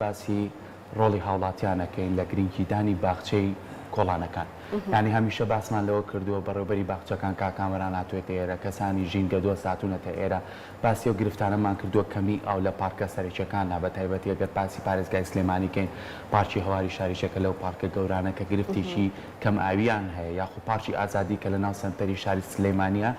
باسی ڕۆڵی هاوڵاتیان ئەکەین لە گرنگی دانی باخچەی کۆڵانەکان یانی هەمیشە باسمان لەوە کردووە بەڕێوبەری باخچەکان کاک کامەران هاتوێتە ئێرە کەسانی ژینگە دۆست هاتونەتە ئێرە باسی ئەو گرفتانەمان کردووە کەمی ئاو لە پارکە سەرەکیەکاندا بە تایبەتی ئەگەر باسی پارێزگای سلێمانی کەین پارکی هەواری شاریش یەکە لەو پارکە گەورانە کە گرفتێکی کەم ئاویان هەیە یاخو پارکی ئازادی کە لە ناو سەنتەری شاری سلێمانیە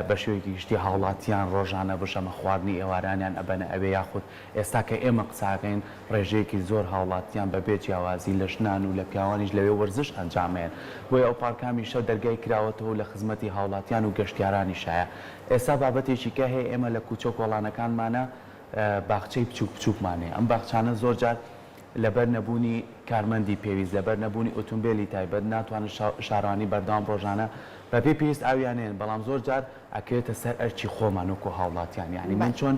بە شێوەیەکی گشتی هاوڵاتیان ڕۆژانە بژەمە خواردنی ئێوارانیان ئەبەنە ئەوێ یاخود ئێستا کە ئێمە قسەئەکەین ڕێژەیەکی زۆر هاوڵاتیان بە بێ جیاوازی لە ژنان و لە پیاوانیش لەوێ وەرزش ئەنجامەیەن بۆیە ئەو پارکە هەمیشە دەرگای کراوەتەوە و لە خزمەتی هاوڵاتیان و گەشتیارانیشایە ئێستا بابەتێکی کە هەیە ئێمە لە کوچە و کۆڵانەکانمانە باخچەی بچوک بچوکمان هەیە ئەم باخچانە زۆر جار لەبەر نەبوونی کارمەندی پێویست لەبەر نەبوونی ئوتومبێلی تایبەت ناتوانن شارەوانی بەردەوام ڕۆژانە بە پێی پێویست ئاویان نێن بەڵام زۆر جار ئەکەوێتە سەر ئەرکی خۆمان وەکو هاوڵاتیان یانی من چۆن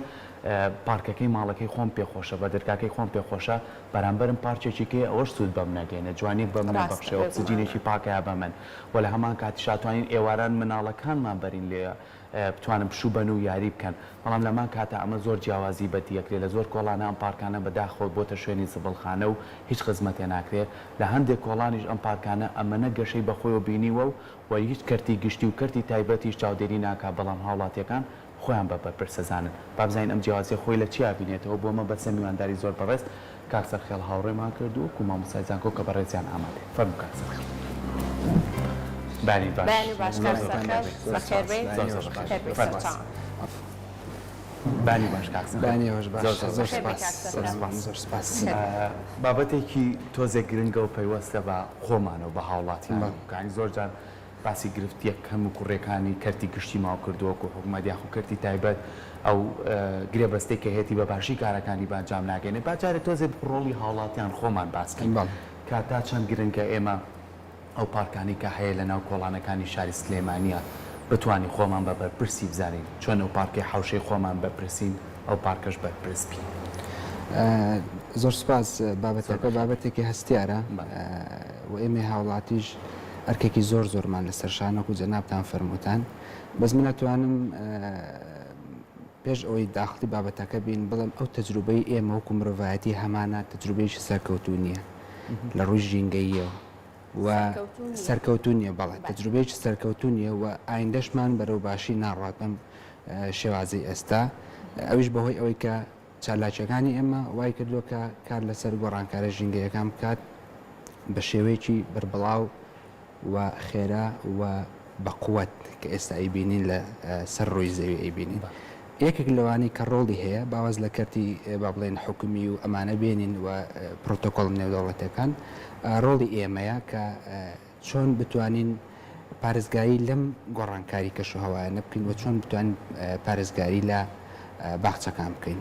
پارکەکەی ماڵەکەی خۆم پێ خۆشە بەدرگاکەی خۆم پێ خۆشە بەرامبەرم پارکێکی کەی ئەوەش سود بەم نەگەینە جوانیەک بەم نەبەخشێ ئۆکسجینێکی پاکەیە بە من وە لە هەمان کاتی شاتوانین ئێواران مناڵەکانمان بەرین لێ بتوانن پشو بەن و یاری بکەن بەڵام لەمان کاتا ئەمە زۆر جیاوازی بەدی ئەکرێ لە زۆر کۆڵانە ئەم پارکانە بەداخەوە بۆتە شوێنی زبڵخانە و هیچ خزمەتێ ناکرێ لە هەندێک کۆڵانیش ئەم پارکانە ئەمەنە گەشەی بەخۆیەوە بینیوە و و هیچ کەرتی گشتی و کەرتی تایبەتیش چاودێری ناکات بەڵام هاوڵاتیەکان خۆیان بە بەرپرس ئەزانن بابزانین ئەم جیاوازیە خۆی لە چی ئابینێتەوە بۆ مەبەستە میوانداری زۆر بەڕێز کاک سەرخێڵ هاوڕێمان کرد و کو مامۆستای زانکۆ کە بەڕێزیان ئامادەیە فەرموو کاک سەرخێڵ بەیانی باش کاک سەرخێڵ بەخێربێیت فەرموو. بانی باش کاک سەنگ. بانی باش باش زۆر زۆر بەخێر بێی کاک سپاس زۆر سەنگەر. سپاس زۆر سپاس بابەتێکی تۆزێک گرنگە و پەیوەستە بە خۆمان و بە هاوڵاتیان بەڵێ. کانی زۆر جار باسی گرفت یەک کەم و کوڕیەکانی کەرتی گشتی ماو کردووە وەکو حکومەت یاخو کەرتی تایبەت ئەو گرێبەستەی کە هەیەتی بە باشی کارەکانی بە ئەنجام ناگەێنێ با جارێ تۆزێ ڕۆڵی هاوڵاتیان خۆمان باس کەین بەڵێ. کە تا چەند گرنگە ئێمە ئەو پارکانەی کە هەیە لە ناو کۆڵانەکانی شاری سلێمانیە بتوانین خۆمان بە بەرپرسی بزانین چۆن ئەو پارکەی حەوشەی خۆمان بەرپرسین ئەو پارکەش بەرپرس بین. زۆر سوپاس، بابەتەکە بابەتێکی هەستیارە و ئێمەی هاوڵاتیش ئەرکێکی زۆر زۆرمان لەسەر شانە وەکو جەنابتان فەرمووتان بەس من ئەتوانم، پێش ئەوەی داخڵی بابەتەکە بین، بڵێم ئەو تەجروبەی ئێمە وەکو مرۆڤایەتی هەمانە، تەجروبەیەکی سەرکەوتوو نییە لە ڕووی ژینگەییەوە و سەرکەوتوو نییە؟ سەرکەوتوو نییە، بەڵێ، بەڵێ. تەجروبەیەکی سەرکەوتوو نییە و ئایندەشمان بەرەو باشی ناڕوات بەم شێوازەی ئێستا، ئەویش بەهۆی ئەوەی کە چالاکییەکانی ئێمە وای کردووە کە کار لەسەر گۆڕانکارە ژینگەییەکان بکات بە شێوەیەکی بەربڵاو، و خێرا و بە قوەت کە ئێستا ئەیبینین لە سەر ڕووی زەوی ئەیبینین یەکێک لەوانەی کە ڕۆڵی هەیە با واز لە کەرتی با بڵێین حکومی و ئەمانە بێنین و پرۆتۆکۆڵ نێودەوڵەتیەکان ڕۆڵی ئێمەیە کە چۆن بتوانین پارێزگاری لەم گۆڕانکاری کەشوهەوایانە بکەین و چۆن بتوانین پارێزگاری لە باخچەکان بکەین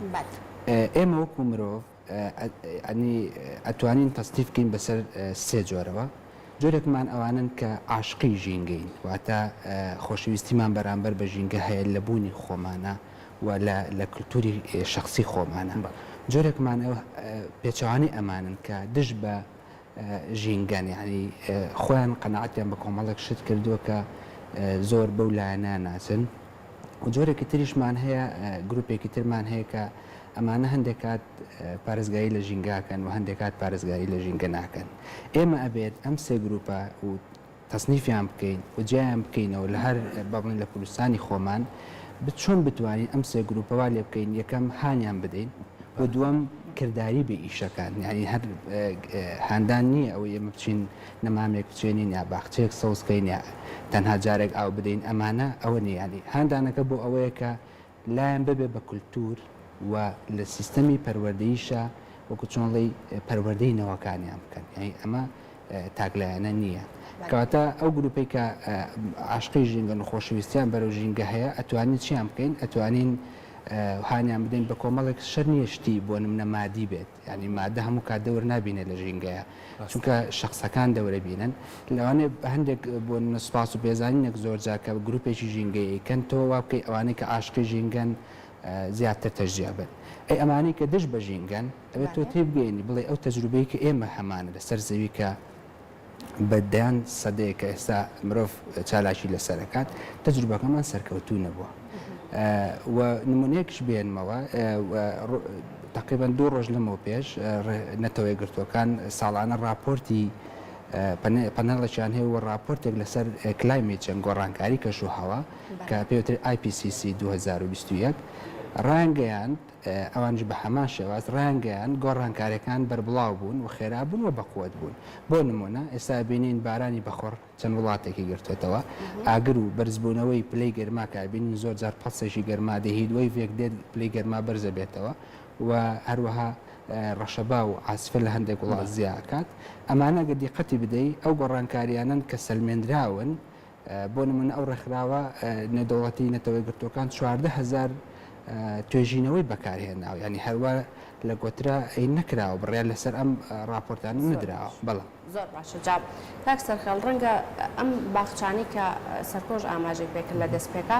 ئێمە وەکو مرۆڤ ئەنی ئەتوانین تەسنیف بکەین بەسەر سێ جۆرەوە، جۆرێکمان ئەوانەن کە عاشقی ژینگەین واتە خۆشەویستیمان بەرامبەر بە ژینگە هەیە لە بوونی خۆمانا و لە لە کلتوری شەخسی خۆمانا، جۆرێکمان پێچەوانەی ئەمانەن کە دژ بە. ژینگەن یانی خۆیان قەناعەتیان بە کۆمەڵێک شت کردووە کە زۆر بەو لایەنە ناچن و جۆرێکی تریشمان هەیە گروپێکی ترمان هەیە کە ئەمانە هەندێک کات پارێزگاری لە ژینگاکەن و هەندێک کات پارێزگاری لە ژینگە ناکەن ئێمە ئەبێت ئەم سێ گروپە و تەسنیفیان بکەین و جیایان بکەینەوە لە هەر با بڵێین لە کوردستانی خۆمان چۆن بتوانین ئەم سێ گرووپە وا لێ بکەین یەکەم هانیان بدەین و دووەم کرداری بێ ئیشەکان یانی هەر هاندان نییە ئەوەی ئێمە بچین نەمامێک بچێنین یا باخچەیەک سەوزکەین یا تەنها جارێک ئاو بدەین ئەمانە ئەوە نییانی هاندانەکە بۆ ئەوەیە کە لایان ببێ بە کولتوور و لە سیستەمی پەروەردەییشا وەکوو چۆن ئەڵێی پەروەردەی نەوەکانیان بکەن یانی ئەمە تاکلایەنە نییە کەواتە ئەو گرووپەی کە عاشقی ژینگەن و خۆشەویستیان بەرەو ژینگە هەیە ئەتوانین چیان بکەین ئەتوانین هانیان بدەین بە کۆمەڵێک شەر نییە شتی بۆ نمونە مادی بێت یانی مادە هەموو کات دەور نابینێ لە ژینگەیا چونکە شەخسەکان دەورە بینن لەوانێ هەندێک بۆ سوپاس و پێزانینێک زۆر جار کە گروپێکی ژینگەی ئەیکەن تۆ وا بکەی ئەوانەی کە عاشقی ژینگەن زیاتر تەشجیع بن ئەی ئەمانەی کە دژ بە ژینگەن ئەوێ تۆ تێبگەینی بڵێ ئەو تەجروبەی کە ئێمە هەمانە لەسەر زەوی کە بە دەیان سەدەیە کە ئێستا مرۆڤ چالاکی لەسەر ئەکات، تەجروبەکەمان سەرکەوتوو نەبووە. و نمونەیەکش بێنمەوە، تەقریبەن دوو ڕۆژ لەمەو پێش نەتەوە یەکگرتووەکان ساڵانە ڕاپۆرتی پەنێڵێکیان هەیە و ڕاپۆرتێک لەسەر کلایمێت چێنج، گۆڕانکاری کەشوهەوا، کە پێی وترێت IPCC 2021، ڕایانگەیاند، ئەوانیش بە هەمان شێواز ڕایانگەیاند، گۆڕانکارییەکان بەربڵاو بوون و خێرا بوون و بەقوەت بوون. بۆ نموونە، ئێستا ئەبینین بارانی بەخوڕ چەند وڵاتێکی گرتۆتەوە، ئاگر و بەرزبوونەوەی پلەی گەرما کە ئەبینین زۆر جار پەڵسێکی گەرما دێ، هیتوەیڤێک دێت پلەی گەرما بەرز ئەبێتەوە و هەروەها ڕەشەبا و عاسفە لە هەندێک وڵات زیا ئەکات. ئەمانە ئەگەر دیقەتی بدەی ئەو گۆڕانکارییانەن کە سەلمێندراون بۆ نموونە ئەو ڕێکخراوە نێودەوڵەتی نەتەوە یەکگرتووەکان چواردە هەزار توێژینەوەی بەکارهێناوە یعنی هەروا لە گۆترا ئەی نەکراوە بڕیار لەسەر ئەم ڕاپۆرتانە نەدراوە بەڵام زۆر باشە جا کاک سەرخێڵ ڕەنگە ئەم باخچانەی کە سەرکۆش ئاماژەی پێکرد لە دەستپێکا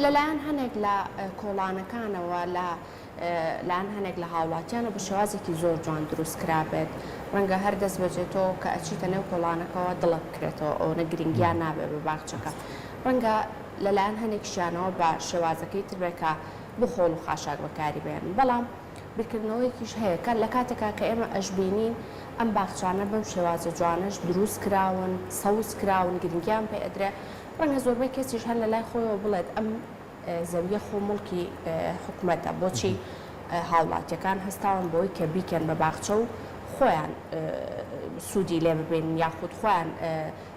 لەلایەن هەنێک لە کۆڵانەکانەوە لە لایەن هەنێک لە هاوڵاتیان و بە شێوازێکی زۆر جوان دروست کرابێت ڕەنگە هەر دەست بەجێ تۆ کە ئەچیتە نێو کۆڵانەکەوە دڵت بکرێتەوە ئەوەنە گرنگیان نابێت بە باخچەکە ڕەنگە لە لایەن هەنێکشیانەوە بە شێوازەکەی تر بێت کە بۆ خۆڵ و خاشاک بەکاری بێنن بەڵام بیرکردنەوەیەکیش هەیە کە لە کاتێکا کە ئێمە ئەشبینین ئەم باخچانە بەم شێوازە جوانەش دروست کراون سەوز کراون گرنگیان پێ ئەدرێ ڕەنگە زۆربەی کەسیش هەر لە لای خۆیەوە بڵێت ئەم زەویە خۆ موڵکی حکومەتە بۆچی هاوڵاتیەکان هەستاون بەوەی کە بیکەن بە باخچە و خۆیان سوودی لێ ببینن یاخود خۆیان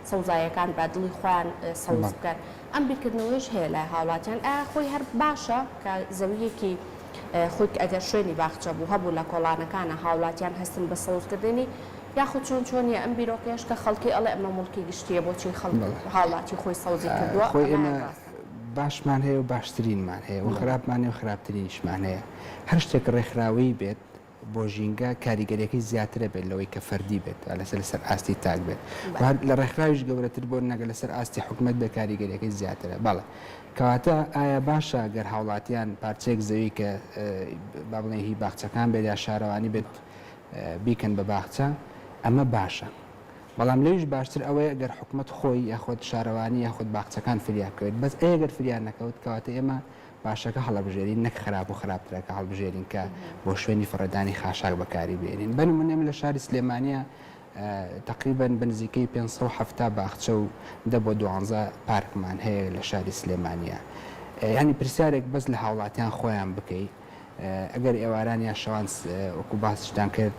سەوزایەکان بە دڵی خۆیان سەوز بکەن ئەم بیرکردنەوەیش هەیە لای هاوڵاتیان ئا خۆی هەر باشە کە زەویەکی خۆیت ئەگەر شوێنی باخچە بوو هەبوو لە کۆڵانەکانە هاوڵاتیان هەستن بە سەوزکردنی یاخود چۆن چۆنیە ئەم بیرۆکەیەش کە خەڵکی ئەڵێ ئەمە مڵکی گشتیە بۆچی خەڵک هاوڵاتی خۆی سەوزی کردووە خۆی ئێمە باشمان هەیە و باشترینمان هەیە و خراپمان هەیە و خراپترینیشمان هەیە. هەر شتێک ڕێکخراوەیی بێت بۆ ژینگە کاریگەریەکەی زیاترە بێت لەوەی کە فەردی بێت ئالەسە لەسەر ئاستی تاک بێت و هەر لە ڕێکخراویش گەورەتر بۆ نەگە لەسەر ئاستی حکومەت بێت کاریگەریەکەی زیاترە بەڵێ کەواتە ئایا باشە گەر هاوڵاتیان پارچەیەک زەوی کە با بڵێن هی باخچەکان بێت یا شارەوانی بێت بیکەن بە باخچە ئەمە باشە بەڵام لەویش باشتر ئەوەیە گەر حکومەت خۆی یاخود شارەوانی یاخود باخچەکان فریا بکەوێت بەس ئەیە گەر فریا نەکەوت کەواتە ئێمە باشەکە هەڵەبژێرین نەک خراپ و خراپترەکە هەڵبژێرین کە بۆ شوێنی فڕێدانی خاشاک بەکاری بێنین بە نمونە ئێمە لە شاری سلێمانیە تەقریبەن بە نزیکەی پێنج سەد و حەفتا باخچە و دە بۆ دوانزە پارکمان هەیە لە شاری سلێمانیە یانی پرسیارێک بەس لە هاوڵاتیان خۆیان بکەی ئەگەر ئێواران یا شەوان وەکو باسیشتان کرد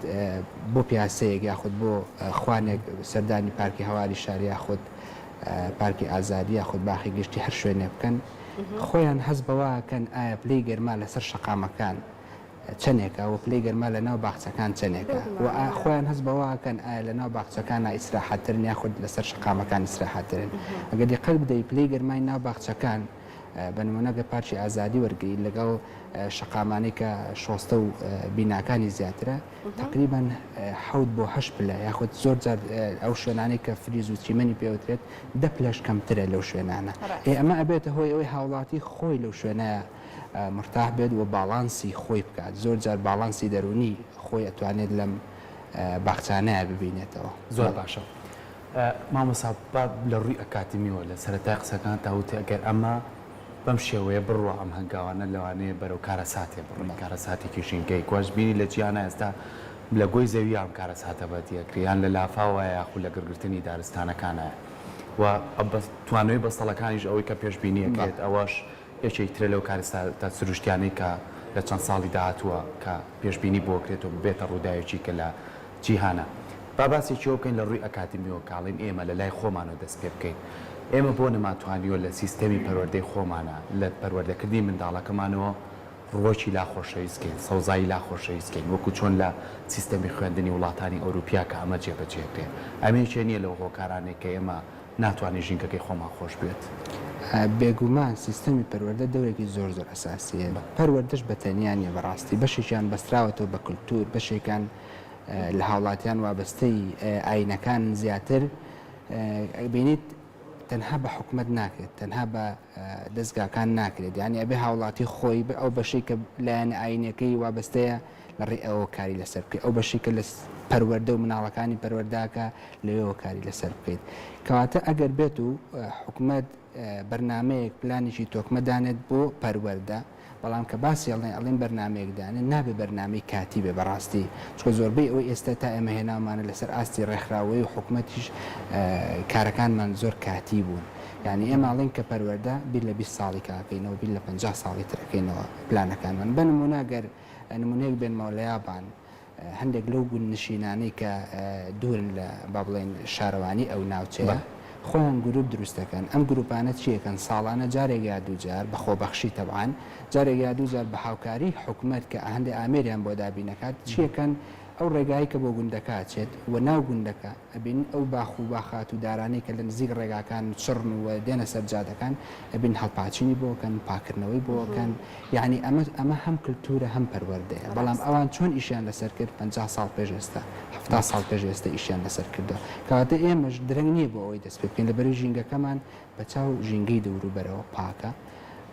بۆ پیاسەیەک یاخود بۆ خوانێک سەردانی پارکی هەواری شار یاخود پارکی ئازادی یاخود باخی گشتی هەر شوێنێ بکەن خۆیان هەست بەواکەن ئایا پلەی گەرما لەسەر شەقامەکان چەنێکە و پلەی گەرما لە ناو باخچەکان چەنێکە و خۆیان هەست بەواکەن ئایا لە ناو باخچەکانە ئیسراحەتترن یاخود لەسەر شەقامەکان ئیسراحەتترن ئەگەر دیقەت بدەی پلەی گەرمای ناو باخچەکان بە نموونە گەر پارکی ئازادی وەرگریت لەگەڵ شەقامانەی کە شۆستە و بیناکانی زیاترە تقریبان حەوت بۆ هەش پلە یاخود زۆر جار ئەو شوێنانەی کە فریز و چیمەنی پێوترێت دە پلەش کەمترە لەو شوێنانە ئێ ئەمە ئەبێتە هۆی ئەوەی هاوڵاتی خۆی لەو شوێنە مرتاح بێت و باڵانسی خۆی بکات زۆر جار باڵانسی دەرونی خۆی ئەتوانێت لەم باخچانەیە ببینێتەوە زۆر باشە. مامۆستا با لە ڕووی ئەکادمیەوە لە سەرەتای قسەکانتا وتی ئەگەر ئەمە بەم شێوەیە بڕوا ئەم هەنگاوانە لەوانەیە بەرەو کارەساتێ بڕۆن کارەساتێکی ژینگەیی کە واش بینی لە جیهانا ئێستا لە گۆی زەویا ئەم کارەساتە بەدی ئەکرێ یان لە لافاوەیە یاخود لە گڕگرتنی دارستانەکانایە و توانەوەی بەستەڵەکانیش ئەوەی کە پێشبینی ئەکرێت ئەوەش یەکێک ترە لەو کارەساتە سروشتیانەی کە لە چەند ساڵی داهاتووە کە پێشبینی بۆ کرێت و ببێتە ڕووداوێکی کە لە جیهانا. با باسێکیەوە بکەین لە ڕووی ئەکادیمیەوە کاڵین ئێمە لە لای خۆمانەوە دەست پێ بکەین. ئێمە بۆ نەما توانیوە لە سیستەمی پەروەردەی خۆمانا لە پەروەردە کردنی منداڵەکەمانەوە ڕووەکی لا خۆشەویست کەین سەوزایی لا خۆشەویست کەین وەکو چۆن لە سیستەمی خوێندنی وڵاتانی ئەوروپیا کە ئەمە جێ بە جێ کرێت ئەمە یەکێ نیە لەو هۆکارانەی کە ئێمە ناتوانین ژینگەکەی خۆمان خۆش بوێت. بێگومان سیستەمی پەروەردە دەورێکی زۆر زۆر ئەساسی هەیە، پەروەردەش بە تەنیا نیە بەڕاستی بەشێکیان بەستراوەتەوە بە کلتور بەشێکیان لە هاوڵاتیان وابەستەی ئاینەکانن زیاتر ئەبینیت تەنها بە حکومەت ناکرێت تەنها بە دەزگاکان ناکرێت یانی ئەبێ هاوڵاتی خۆی بە ئەو بەشەی کە لایەنە ئاینەکەی وابەستەیە لەڕێی ئەوەوە کاری لەسەر بکەیت، ئەو بەشەی کە لە پەروەردە و مناڵەکانی پەروەردە ئەکا لەوێوە کاری لەسەر بکەیت. کەواتە ئەگەر بێت و حکومەت بەرنامەیەک پلانێکی تۆکمە دانێت بۆ پەروەردە، بەڵام کە باسی ئەڵێن ئەڵێن بەرنامەیەک دانێن نابێت بەرنامەی کاتی بێت بەڕاستی، چونکە زۆربەی ئەوەی ئێستا تا ئێمە هێناومانە لەسەر ئاستی ڕێکخراوەیی و حکومەتیش کارەکانمان زۆر کاتی بوون، یانی ئێمە ئەڵێن کە پەروەردە بیر لە بیست ساڵیکە ئەکەینەوە بیر لە پەنجا ساڵی تر ئەکەینەوە پلانەکانمان بە نموونە گەر نمونەیەک بێنمەوە لە یابان هەندێک لەو گوندنشینانەی کە دوورن لە با بڵێین شارەوانی ئەو ناوچەیە خۆیان گروپ دروست دەکەن ئەم گروپانە چیەکەن ساڵانە جارێک یا دوو جار بە خۆبەخشی تەبعان جارێک یا دوو جار بە هاوکاری حکومەت کە هەندێ ئامێریان بۆ دابین دەکات چیەکەن ئەو ڕێگایەی کە بۆ گوندەکە ئەچێت و ناو گوندەکە ئەبینن ئەو باخ و باخات و دارانەی کە لە نزیک ڕێگاکان و چڕن و دێنە سەر جادەکان ئەبینن هەڵپاچینی بۆ ئەکەن پاکردنەوەی بۆ ئەکەن یانی ئەمە ئەمە هەم کلتورە هەم پەروەردەیە بەڵام ڕاستە. ئەوان چۆن ئیشیان لەسەر کرد پەنجا ساڵ پێش ئێستا حەفتا ساڵ پێش ئێستا ئیشیان لەسەر کردوە کەواتە ئێمەش درەنگ نیە بۆ ئەوەی دەست پێ بکەین لەبەرئ ژینگەکەمان بە چاو ژینگەی دەوروبەرەوە پاکە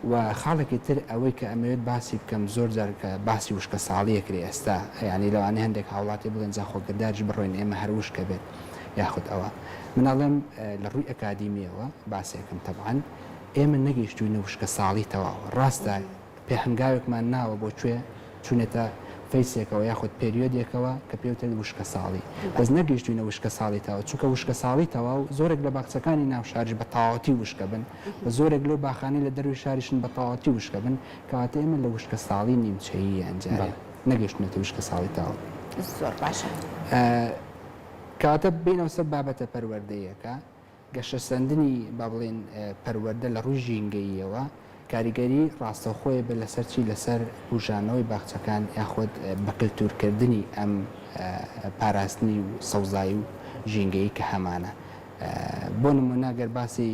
و خاڵێکی تر ئەوەی کە ئەمەوێت باسی بکەم زۆر جار کە باسی وشکە ساڵی ئەکرێ ئێستا یانی لەوانەیە هەندێک هاوڵاتی بڵێن جا خۆ کرداریش بڕۆین ئێمە هەر وشکە بێت یاخود ئەوە من ئەڵێم لە ڕووی ئەکادیمیەوە باسێکم تەبعەن ئێمە نەگەیشتووینە وشکە ساڵی تەواو ڕاستە پێ هەنگاوێکمان ناوە بۆ کوێ چونێتە فەیسێکەوە یاخود پێریۆدێکەوە کە پێی وترێت وشکەساڵی بەس نەگەیشتوینە وشکەساڵی تەواو چونکە وشکەساڵی تەواو زۆرێک لە باخچەکانی ناو شاریش بە تەواوەتی وشکە بن و زۆرێک لەو باخانەی لە دەروی شاریشن بە تەواوەتی وشکە بن کەواتە ئێمە لە وشکەساڵی نیمچەیی یان جارێ نەگەیشتونەتە وشکەساڵی تەواو. زۆر باشە. کەواتە بێینەوە سەر بابەتە پەروەردەییەکە گەشەسەندنی با بڵێین پەروەردە لە ڕووی ژینگەییەوە کاریگەری ڕاستەوخۆی بێت لەسەر چی؟ لەسەر بوژانەوەی باخچەکان یاخود بەکلتورکردنی ئەم پاراستنی و سەوزایی و ژینگەیی کە هەمانە. بۆ نموونە گەر باسی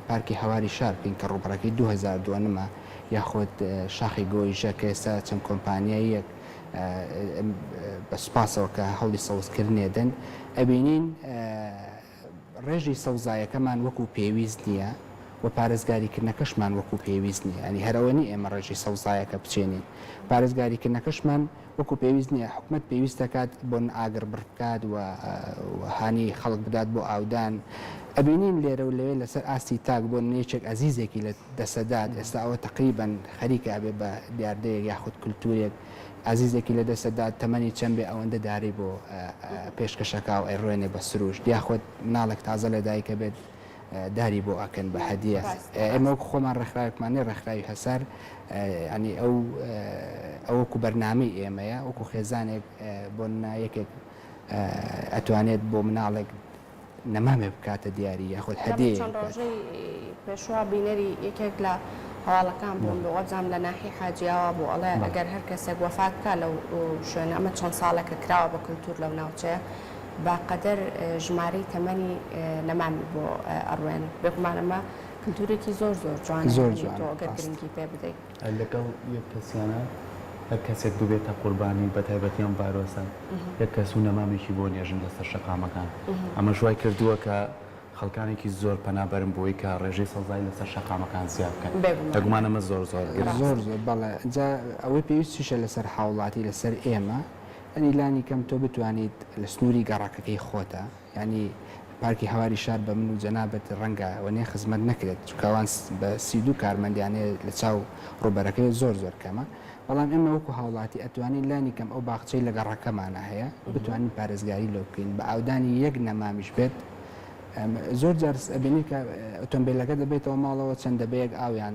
پارکی هەواری شار بکەین کە ڕووبەڕەکەی دوو هەزار دۆنمە یاخود شاخی گۆیژە کە ئێستا چەند کۆمپانیاییەک بە سوپاسەوە کە هەوڵی سەوزکردنێ دەن ئەبینین ڕێژەی سەوزایەکەمان وەکو پێویست نییە و پارێزگاریکردنەکەشمان وەکو پێویست نییە، یانی هەر ئەوە نییە ئێمە ڕێژەی سەوزایەکە بچێنین، پارێزگاریکردنەکەشمان وەکو پێویست نییە، حکومەت پێویست دەکات بۆن ئاگر بڕ بکات و هانی خەڵک بدات بۆ ئاودان، ئەبینین لێرە و لەوێ لەسەر ئاستی تاک بۆ نمونە یەکێک ئەزیزێکی لە دەسەدات، ئێستا ئەوە تەقریبەن خەریکە ئەبێت بە دیاردەیەک یاخود کلتورێک، ئازیزێکی لە دەستت دا تەمەنی چەند بێ ئەوەندە داری بۆ پێشکەشەکاو ئەیڕوێنێ بە سروشت یا خۆ مناڵێک تازە لە دایک ئەبێت داری بۆ ئەکەن بە هەدیە ئێمە وەکو خۆمان ڕێکخراوێکمان نیە ڕێکخراوی هەسار ینی ئەو ئەوەکو بەرنامەی ئێمەیە وەکو خێزانێک بۆ نایەکێک ئەتوانێت بۆ مناڵێک نەمامێ بکاتە دیاری یاخود هەدێ چەند ڕۆژەی پێشوە بینەری یەکێک لە هەواڵەکان بووم بۆ وەزام لە ناحی حاجی ئاوا بوو ئەڵێ ئەگەر هەر کەسێک وەفات بکا لەو شوێنە ئەمە چەند ساڵێکە کراوە بە کلتور لەو ناوچەیە بە قەدەر ژمارەی تەمەنی نەمامی بۆ ئەڕوێن بێگومان ئەمە کلتورێکی زۆر زۆر جوانە زۆر جوانە گەر گرنگی پێ بدەیت. لەگەڵ یەک کەسیانە هەر کەسێک ببێتە قوربانی بە تایبەتی ئەم ڤایرۆسە یەک کەس و نەمامێکی بۆ نێژن لەسەر شەقامەکان ئەمەش وای کردووە کە خەڵکانێکی زۆر پەنا بەرن بۆی کە ڕێژەی سەوزایی لەسەر شەقامەکان زیاد بکەن بێگومان ئەمە زۆر زۆر گرنگە. زۆر زۆر بەڵێ جا ئەوەی پێویستیشە لەسەر هاوڵاتی لەسەر ئێمە یانی لانی کەم تۆ بتوانیت لە سنووری گەڕەکەکەی خۆتا یانی پارکی هەواری شار بە من و جەنابت ڕەنگە وەنێ خزمەت نەکرێت چونکە ئەوان بە سی و دوو کارمەندیان هەیە لە چاو ڕووبەرەکەی زۆر زۆر کەمە بەڵام ئێمە وەکو هاوڵاتی ئەتوانین لانی کەم ئەو باخچەی لە گەڕەکەمانە هەیە بتوانین پارێزگاری لۆ بکەین بە ئاودانی یەک نەمامیش بێت زۆر جار ئەبینی کە ئۆتۆمبیلەکە دەبێتەوە ماڵەوە چەند دەبەیەک ئاویان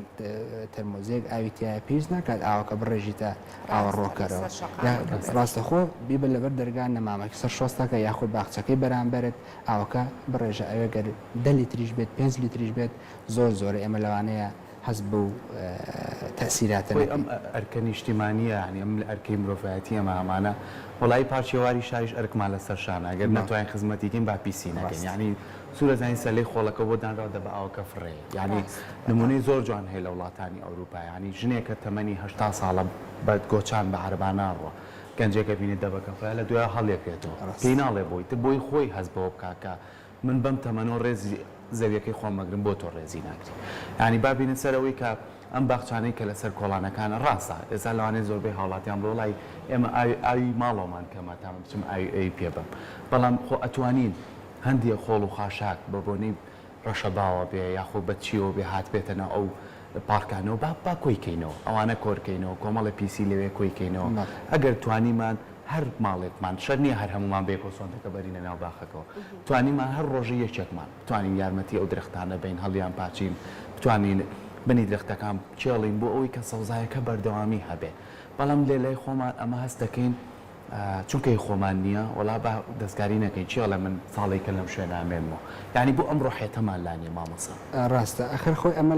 تەرمۆزێک ئاوی تایە پێویست ناکات ئاوەکە بڕێژیتە ئاوەڕۆکەرەوە یا ڕاستەخۆ بیبە لەبەر دەرگا نەمامەکی سەر شۆستەکە یاخود باخچەکەی بەرامبەرت ئاوەکە بڕێژە ئەوێ گەر دە لیتریش بێت پێنج لیتریش بێت زۆر زۆرە ئێمە لەوانەیە هەست بەو تەئسیراتە نەکەین. خۆی ئەم ئەرکە نیشتیمانیە یانی ئەم ئەرکەی مرۆڤایەتی ئێمە ئەمانە وەڵایی پارچێواری شاریش ئەرکمان لەسەر شانە گەر نەتوانین خزمەتی کەین با پیسی نەکەین یانی سورە زانین سەلەی خۆڵەکە بۆ دانراوە دەبئاوەکە فڕێ یانی نمونەی زۆر جوان هەیە لە وڵاتانی ئەوروپا یانی ژنێکە تەمەنی هەشتا ساڵە بە گۆچان بە عەرەبا ناڕوا گەنجێکە بینێ دەبەکە خۆیان لە دوایان هەڵێکرێتەوە پێی ناڵێ بۆی تە بۆی خۆی هەست بەوە بکا کە من بەم تەمەنەوە ڕێزی زەویەکەی خۆم ئەگرم بۆ تۆ ڕێزی ناگری یانی با بینە سەر ئەوەی کە ئەم باخچانەی کە لەسەر کۆڵانەکانە ڕاستە ئێستا لەوانەیە زۆربەی هاوڵاتیان بڵێ وەڵای ئێمە ئاوی ئاوی ماڵەوەمان کەمە تا من بچم ئاوی ئەوی پێ بەم بەڵام خۆ ئەتوانین هەندێ خۆڵ و خاشاک بە بۆنەی ڕەشەباوە بێ یاخۆ بە چیەوە بێ هاتبێتە ناو ئەو پارکانەوە با با کۆی کەینەوە ئەوانە کۆر کەینەوە کۆمەڵێ پیسی لەوێ کۆی کەینەوە ئەگەر توانیمان هەر ماڵێکمان شەر نیە هەر هەموومان بەیەکەوە سۆندەکە بەرینە ناو باخەکەوە توانیمان هەر ڕۆژی یەکێکمان بتوانین یارمەتی ئەو درەختانە بەین هەڵیان پاچین بتوانین بنی درەختەکان بکێڵین بۆ ئەوەی کە سەوزایەکە بەردەوامی هەبێ بەڵام لێ لای خۆمان ئەمە هەست دەکەین چونکە هی خۆمان نیە وەڵا با دەستکاری نەکەین چی ئەڵێ من ساڵێکە لەم شوێنە ئەمێنمەوە یانی بۆ ئەم ڕۆحیەتەمان لا نیە مامۆسا. ڕاستە ئەخەر خۆی ئەمە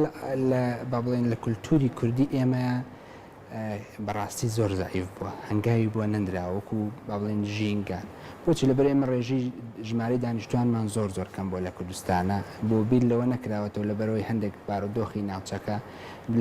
لە با بڵێین لە کولتوری کوردی ئێمە بەڕاستی زۆر زەعیف بوە هەنگاوی بۆ نەندراوە وەکو با بڵێین ژینگە بۆچی لەبەر ئێمە ڕێژەی ژمارەی دانیشتوانمان زۆر زۆر کەم بوە لە کوردستانا بۆ بیر لەوە نەکراوەتەوە لەبەرەوەی هەندێک بارودۆخی ناوچەکە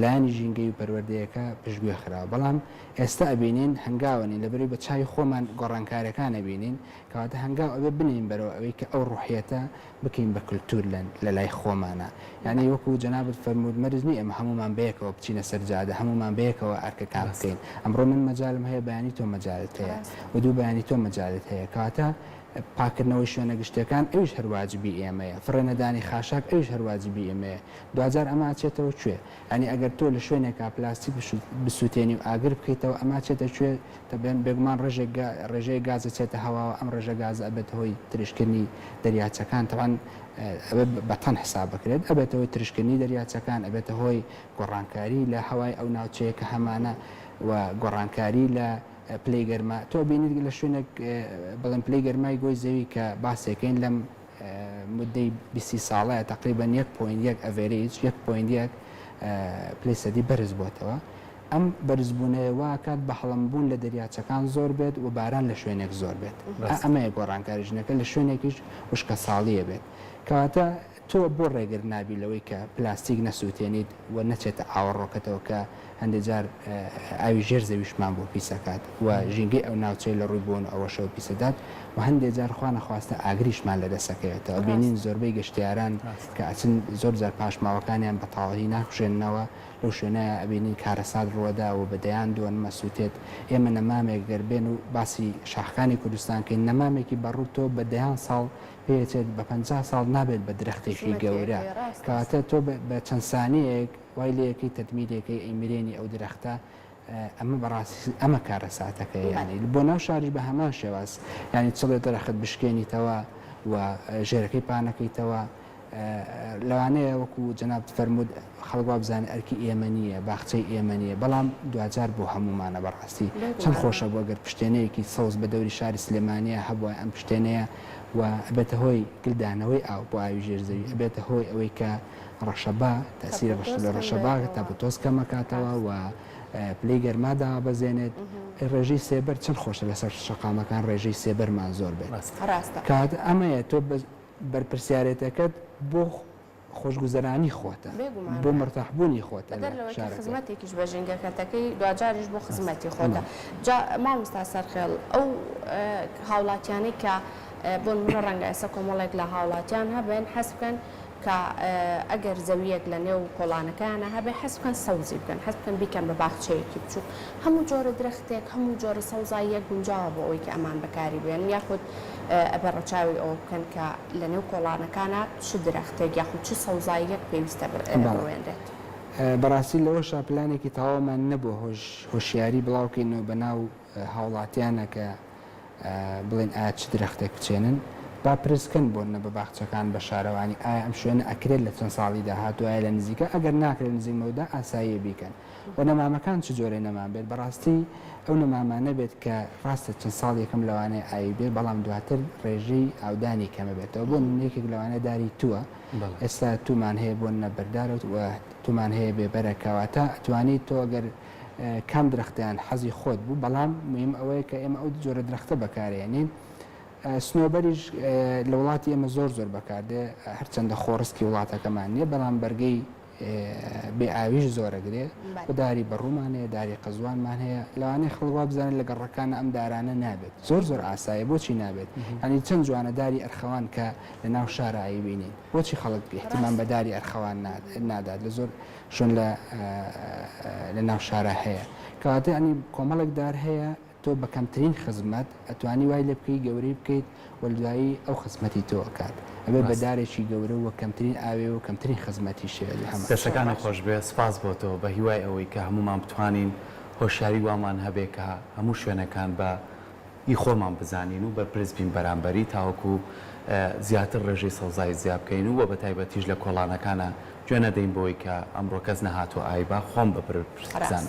لایەنی ژینگەی و پەروەردەیەکە پشتگوێ خراوە بەڵام ئێستا ئەبینین هەنگاوە نین لەبەرئەوەی بە چاوی خۆمان گۆڕانکاریەکان ئەبینین کەواتە هەنگاو ئەبێ بنێین بەرەو ئەوەی کە ئەو ڕوحیەتە بکەین بە کلتور لە لەلای خۆمانا یانی وەکو جەنابت فەرمووت مەرج نیە ئێمە هەموومان بەیەکەوە بچینە سەر جادە هەموومان بەیەکەوە ئەرکەکان بکەین ئەمڕۆ من مەجالم هەیە بەیانی تۆ مەجالت هەیە و دوو بەیانی تۆ مەجالت هەیە کەواتە پاکردنەوەی شوێنە گشتیەکان ئەویش هەر واجبی ئێمەیە فڕێ نەدانی خاشاک ئەویش هەر واجبی ئێمەیە دواجار ئەمە ئەچێتەوە کوێ یانی ئەگەر تۆ لە شوێنێکا پلاستیک بسوتێنی و ئاگر بکەیتەوە ئەمە چێتە کوێ؟ دەبێن بێگومان ڕێژێک گا ڕێژەیەک گاز ئەچێتە هەواوە ئەم ڕێژە گازە ئەبێتە هۆی ترشکردنی دەریاچەکان تەبعەن ئەبێ بە تەن حساب بکرێت ئەبێتە هۆی ترشکردنی دەریاچەکان ئەبێتە هۆی گۆڕانکاری لە هەوای ئەو ناوچەیە کە هەمانە و گۆڕانکاری لە پلەی گەرما تۆ ئەبینیت لە شوێنێک بڵێن پلەی گەرمای گۆی زەوی کە باسێکەین لەم مودەی بیست ی ساڵەیە تەقریبەن یەک پۆینت یەک ئەڤێرێج یەک پۆینت یەک پلەی سەدی بەرز بۆتەوە ئەم بەرزبوونەیە وا ئەکات بەهەڵم بوون لە دەریاچەکان زۆر بێت و باران لە شوێنێک زۆر بێت ئەمەیە گۆڕانکاری ژنەکە لە شوێنێکیش وشکە ساڵیە بێت کەواتە تۆ بۆ ڕێگر نابی لەوەی کە پلاستیک نەسووتێنیت و نەچێتە ئاوەڕۆکەتەوە کە هەندێک جار ئاوی ژێر زەویشمان بۆ پیس ئەکات و ژینگەی ئەو ناوچەیە لە ڕووی بۆن و ئەوەشەوە پیس ئەدات و هەندێک جار خوا نەخواستە ئاگریشمان لە دەست ئەکەوێتەوە ئەبینین زۆربەی گەشتیاران کە ئەچن زۆر جار پاشماوەکانیان بە تەواوی ناکوژێننەوە لەو شوێنەیە ئەبینین کارەسات ڕووەدا و بە دەیان دۆن ئەسووتێت ئێمە نەمامێک گەر بێن و باسی شاخەکانی کوردستان کەین نەمامێکی بە ڕووت تۆ بە دەیان ساڵ پێی ئەچێت بە پەنجا ساڵ نابێت بە درەختێکی گەورە کەواتە تۆ بە چەند سانیەیەک وای لێکەی تەدمی لێکەی ئەی مرێنی ئەو درەختە ئەمە بەڕاستی ئەمە کارەساتەکەیە یانی بۆ ناو شاریش بە هەمان شێواز یانی چڵێ درەخت بشکێنیتەوە و ژێرەکەی پانەکەیتەوە لەوانەیە وەکو جەنابت فەرموود خەڵک وا بزانێت ئەرکی ئێمە نییە باخچەی ئێمە نییە بەڵام دواجار بۆ هەموومانە بەڕاستی چەند خۆشە بوو گەر پشتێنەیەکی سەوز بە دەوری شاری سلێمانیە هەبوایە ئەم پشتێنەیە و ئەبێتە هۆی گلدانەوەی ئاو بۆ ئاوی ژێر زەوی ئەبێتە هۆی ئەوەی کە ڕەشەبا، تەئسیری ڕەشە لە ڕەشەبا تاپۆتۆز کەمەکاتەوە و پلەی گەرما دابەزێنێت. ڕێژەی سێبەر چەند خۆشە لەسەر شەقامەکان ڕێژەی سێبەرمان زۆر بێت. ڕاستە. ڕاستە. کات ئەمەیە تۆ بەرپرسیارێتەکەت بۆ خۆشگوزەرانی خۆتە. بێگومان. بۆ مەرتاح بوونی خۆتە لە شارەکە. بەدەر لەوەی کە خزمەتێکیش بە ژینگەکەتەکەی دواجاریش بۆ خزمەتی خۆتە. جا مامۆستا سەرخێڵ ئەو هاوڵاتیانەی کە بۆ نموونە ڕەنگە ئێستا کۆمەڵێک لە هاوڵاتیان هەبن حەز بکەن کە ئەگەر زەویەک لە نێو کۆڵانەکەیانە هەبێ حەز بکەن سەوزی بکەن حەز بکەن بیکەن بە باخچەیەکی بچووک هەموو جۆرە درەختێک هەموو جۆرە سەوزاییەک گونجاوە بۆ ئەوەی کە ئەمان بەکاری بێنن یاخود ئەبێ ڕەچاوی ئەوە بکەن کە لە نێو کۆڵانەکانە چ درەختێک یاخود چ سەوزاییەک پێویستە بڕوێنرێت. بەڕاستی لەوەشا پلانێکی تەواومان نەبووە هۆشیاری بڵاوکەینەوە بەناو هاوڵاتیانە کە بڵێن ئایا چ درەختێک بچێنن با پرس کەن بۆننە بە باخچەکان بە شارەوانی ئایا ئەم شوێنە ئەکرێت لە چەند ساڵی داهاتوو ئایا لە نزیکە ئەگەر ناکرێت لە نزیک مەودا ئاساییە بیکەن و نەمامەکان چ جۆرەی نەمام بێت بەڕاستی ئەو نەمامانە بێت کە ڕاستە چەند ساڵ یەکەم لەوانەیە ئاوی بێت بەڵام دواتر ڕێژەی ئاودانی کەمە بێتەوە بۆ نمونە یەکێک لەوانە داری تووە ئێستا توومان هەیە بۆننە بەردارەوت و توومان هەیە بێ بەرەکە واتە ئەتوانیت تۆ گەر کام درەختیان حەزی خۆت بوو بەڵام مویم ئەوەیە کە ئێمە ئەو جۆرە درەختە بەکارێنین سنۆبەریش لە وڵاتی ئێمە زۆر زۆر بەکاردێ هەرچەندە خۆڕسکی وڵاتەکەمان نییە بەڵام بەرگەی بێ ئاویش زۆرەگرێ و داری بەڕوومانەیە داری قەزوانمان هەیە لەوانێ خەڵوا بزانن لە گەڕەکانە ئەم دارانە نابێت زۆر زۆر ئاسایە بۆچی نابێت ئەنی چەند جوانە داری ئەرخەوان کە لە ناو شارایی بینین بۆچی خەڵک گەهتمان بە داری ئەرخەوان نادات لە زۆر چۆن لە لە ناو شارا هەیە. کەواتە یانی کۆمەڵێک دار هەیە تۆ بە کەمترین خزمەت ئەتوانی وای لێ بکەی گەورەی بکەیت و دوایی ئەو خزمەتی تۆ ئەکات. ئەبێ بە دارێکی گەورە و کەمترین ئاوێ و کەمترین خزمەتی شێ لە هەمان شوێن. دەستەکانت خۆش بێت، سپاس بۆ تۆ. بە هیوای ئەوەی کە هەموومان بتوانین هۆشیاری وامان هەبێ کە هەموو شوێنەکان بە. ی خۆمان بزانین و بەرپرس بین بەرامبەری تاوەکو زیاتر ڕێژەی سەوزایی زیا بکەین و وە بەتایبەتیش لە کۆڵانەکانا گوێ نەدەین بەوەی کە ئەمڕۆ کەس نەهاتوە ئای با خۆم بەبرپرس بزانم.